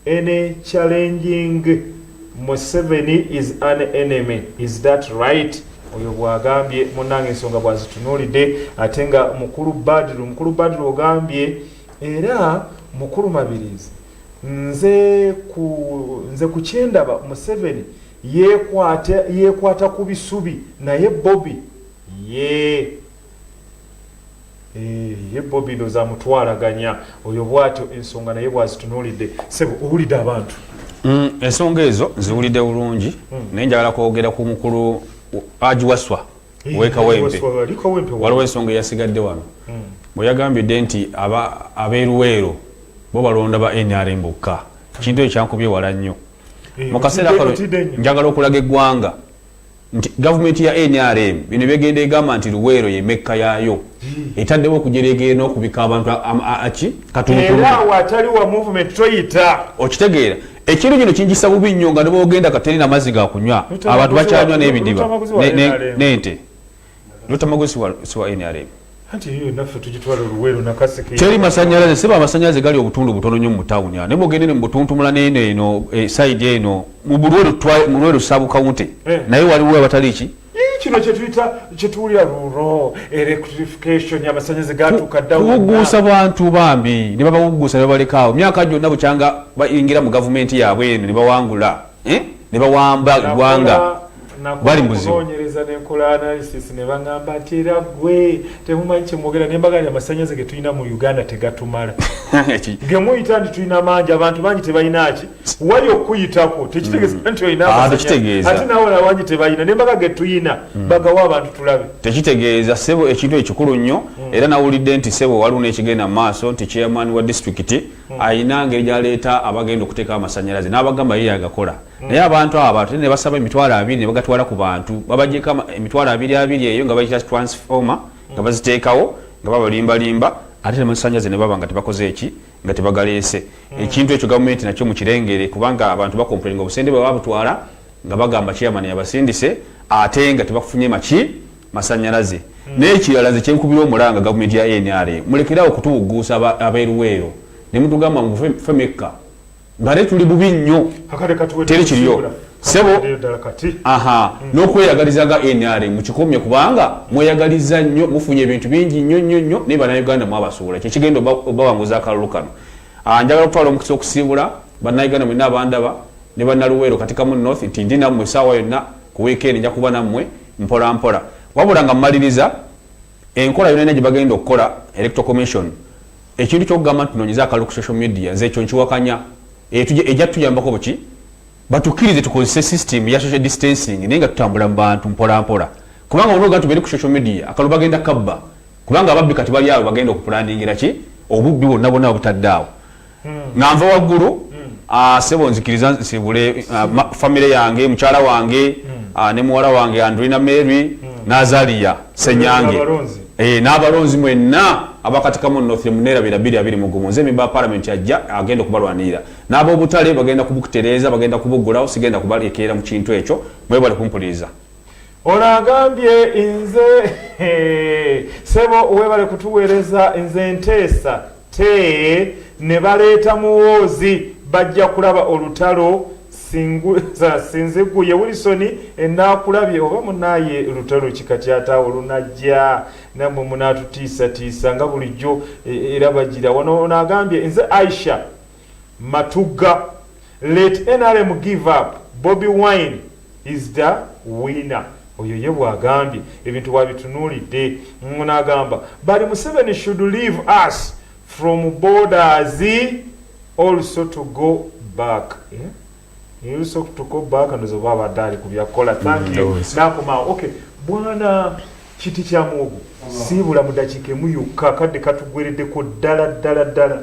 any challenging Museveni is an enemy is that right? oyo bwagambye munange ensonga bwazitunulidde ate nga mukulu badiru mukulu badiru ogambye era mukulu mabirizi nze ku nze kukyendaba museveni yekwata yekwata ku bisubi naye bobi ye Eh, ye bobi ndoza amutwalaganya oyo bwatyo ensonga naye bwazitunulidde sebo owulidde abantu mm, ensonga ezo ziwulidde bulungi mm. naye njagala kwogera ku mukulu agiwaswa eh, wekawempe waliwo ensonga eyasigadde wano mm. bwe yagambidde nti abeeruweero bo balonda ba nrm bokka kintu ekyo kyankubye wala nnyo eh, mu kaseera kano njagala okulaga eggwanga nti gavumenti ya nrm bino byegenda egamba nti luweero ye mekka yaayo etaddewo okujereegere n'okubika abantu aki katuntuawo atali wa movement toyita okitegeera ekiro kino kinkisa bubi nnyo nga nebwogenda katerina amazzi gakunywa abantu bakyanywa n'ebidiba n'ente lutamago siwa nrm teri masanyalaze seba amasanyalaze gali obutundu butono nyo mutawuni naye mugendene mubutuntumula neno eno eh, side eno mulwelu sabu kawunte eh. naye waliwo abatali ki eh, kino kyetuyita kyetuwulira luro electrification yamasanyalaze gatuka ddakuwugguusa bantu bambi ne babawugguusa ne babalekaawo myaka gyonna bukyanga bayingira mu gavumenti yaabwe eno ne bawangula eh? ne bawamba eggwanga bali muzibuonyereza nenkola analysis ne baŋamba nti era gwe temumanyi kyemwogera nembaga nti amasanyaze ge tulina mu uganda tegatumala ge muyita nti tulina mangi abantu bangi tebalinaki wali okukuyitako tekitegeza mm. nti olinaate ah, nawe nawangi tebalina nembaga ge tulina mm. bagawa abantu tulabe tekitegeeza sebo ekintu ekikulu nnyo mm. era nawulidde nti sebo waliwo nekigenda mu maaso nti chairman wa disitulikiti Hmm. alina ngeri gyaleeta abagenda okuteekawo amasanyalaze n'abagamba ye yagakola hmm. naye abantu abo ate ne basaba emitwalo abiri ne bagatwala ku bantu babajeko emitwalo abiri abiri eyo nga bayita transformer hmm. nga baziteekawo nga babalimbalimba ate ne masanyalaze ne baba nga tebakoze eki nga tebagaleese ekintu ekyo gavumenti nakyo mukirengere kubanga abantu bakompulinga obusende bwe babutwala nga bagamba chairman yabasindise ate nga tebafunye maki masanyalaze mm. naye kirala nze kyenkubira omulanga gavumenti ya nra mulekerawo okutuwugguusa abeeruweero ne mutugamba ngu fe mekka ngate tuli bubi nnyo teri kiriyo sebo aha mm. n'okweyagaliza nga nra mukikomye kubanga mweyagaliza nnyo mufunye ebintu bingi nnyo nnyo nnyo naye banauganda mwabasuula kyekigenda obawanguza akalulu kano ah, njagala okutwala omukisa okusiibula banauganda mwena abandaba ne banaluweero katikamu north tindi nammwe esaawa yonna ku weekend nja kuba nammwe mpola mpola wabula nga mumaliriza enkola yona yona gyebagenda okukola electoral commission ekintu kyokugamba nti tunonyeza akalu ku social media nze ekyo nkiwakanya ejja tutuyambako buki batukirize tukozese system ya social distancing naye nga tutambula mu bantu mpola mpola kubanga ono oga tubere ku social media akalu bagenda kabba kubanga ababbi kati bali awo bagenda okupulandingira ki obubbi bwonna bwonna obutadde awo hmm. nga nva waggulu hmm. ah, sebo nzikiriza nsibule ah, famire yange mukyala wange hmm. ah, ne muwala wange andrina mary nazaliya senyange eh, n'abalonzi mwenna abakatikamu nothi munera bira biri abiri mugumu nze mimba parliament ajja agenda okubalwanirira n'aba obutale bagenda kubukutereeza bagenda kubugulawo sigenda kubalekeera mu kintu ekyo mwebale kumpuliriza Ono agambye nze sebo webale kutuweereza nze nteesa te ne baleeta muwoozi bajja kulaba olutalo sinziguye wilisoni enaakulabye oba munaye lutalo kikatyataawo lunajja namwe munatutiisatiisa nga bulijjo e, era bagira wano ono agambye nze aisha Matugga let nrm give up bobi wine is da winner oyo ye bwagambye ebintu bwabitunulidde ngo nagamba bali museveni should leave us from borders also to go back eh also to go back ndoza oba abadde ali kubya kola thank you nakomawo okay bwana kiti kya muwogo siibula mudakika emu yokka akadde katugweredeko ddala ddala ddala.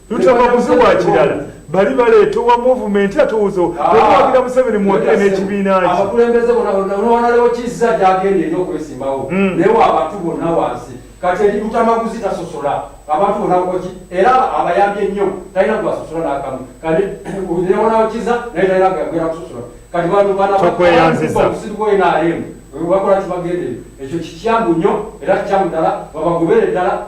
Lutaba kuziwa kirala bali baleeta owa movumenti ate owoza owagira ah. museveni muwagire n'ekibiina kye abakulembeze bona olwalewo kizza gyagenda eri okwesimbawo hmm. naye wa abantu bonna wansi kati eri lutamaguzi tasosola abantu bona okoki era abayambye nnyo talina gwasosola nakamu kati newonawo kiza naye talina gagwera kusosola kati bantu banaokusibuenaremu bakola kibagende ekyo kikyamu nnyo era kikyamu ddala babagobere ddala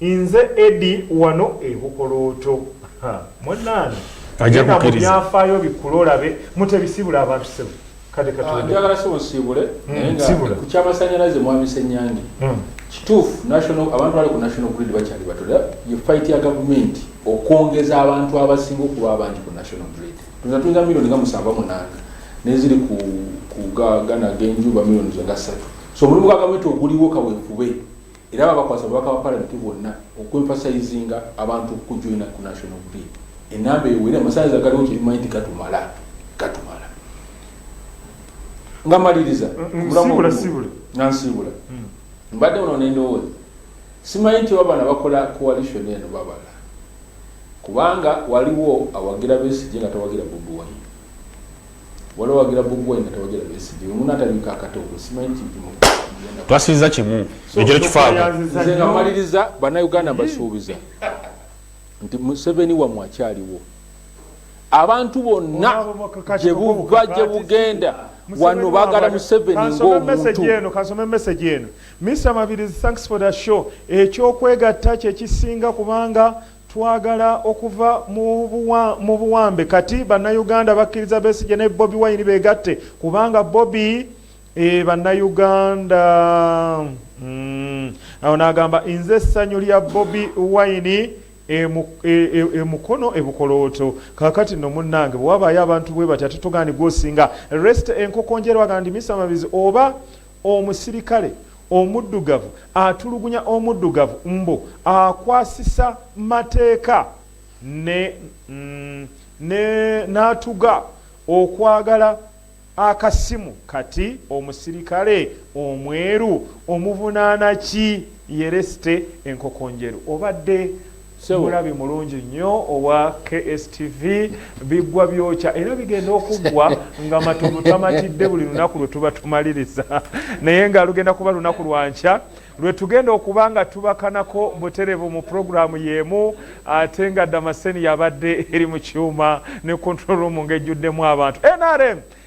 Nze Eddy wano e Bukolooto. Ha, munnange Ajja genda mu kukkiriza. byafaayo bikkule olabe. Mutebi siibula abantu ssebo. Kadde Ah, katonda. njagala sebo nsiibule Mm, naye nga siibula. ku kyamasanyalaze mwami senyange Mm. kituufu national abantu bali ku national grid bakyali bato era ye fight ya gavumenti okwongeza abantu abasinga okuba abangi ku national grid tuza tuyinza milioni nga musanvu munanga neziri ku ku ga- gana genjuba milioni zo nga ssatu so omulimu gwa gavumenti oguliwo kawefube Era babakwasa obubaka bwa palamenti bwonna okwemfasayizinga abantu okujoina ku national grid enamba ewere amasannyalaze agaliwo kyebimanyi nti gatumala gatumala nga maliriza nga nsiibula hmm. mbadde uno nendowooza simanyi nti oba bana bakola coalition eno babala kubanga waliwo awagira besigye nga tawagira bobi wine Wala wagira Bobi Wine nga tawagira Besigye. Oyo munno atabika akatoogo simanyi kipimo. Twasubiza kimu ekyo tekifaamu. Nze nga maliriza bannayuganda mbasuubiza nti Museveni wammwe akyaliwo. Abantu bonna gye buva gye bugenda wano bagala museveni ng'omuntu kansome message eno mr mabirizi thanks for the show ekyokwegatta kyekisinga kubanga Twagala okuva mu buwambe kati bannayuganda bakkiriza Besigye ne Bobi Wine begatte kubanga Bobi e bannayuganda mm. awo n'agamba nze essanyu lya Bobi Wine e mukono e bukolooto kakati no munnange bwe wabaayo abantu bwe batya tutugaani gwosinga rest enkokonjerwagandi misamabizi oba Omusirikale omuddugavu atulugunya omuddugavu mbu akwasisa mateeka ne ne natuga okwagala akasimu kati omusirikale omweru omuvunaana ki? Yereste enkokonjeru obadde mulabi mulungi nnyo owa kstv biggwa byokya era bigenda okuggwa nga matovu tamatidde buli lunaku lwe tuba tumaliriza naye nga lugenda kuba lunaku lwa nkya lwe tugenda okuba nga tubakanako buterevu mu pulogulaamu y'emu ate nga damaseni yabadde eri mu kyuma ne control room ng'ejjuddemu abantu nrm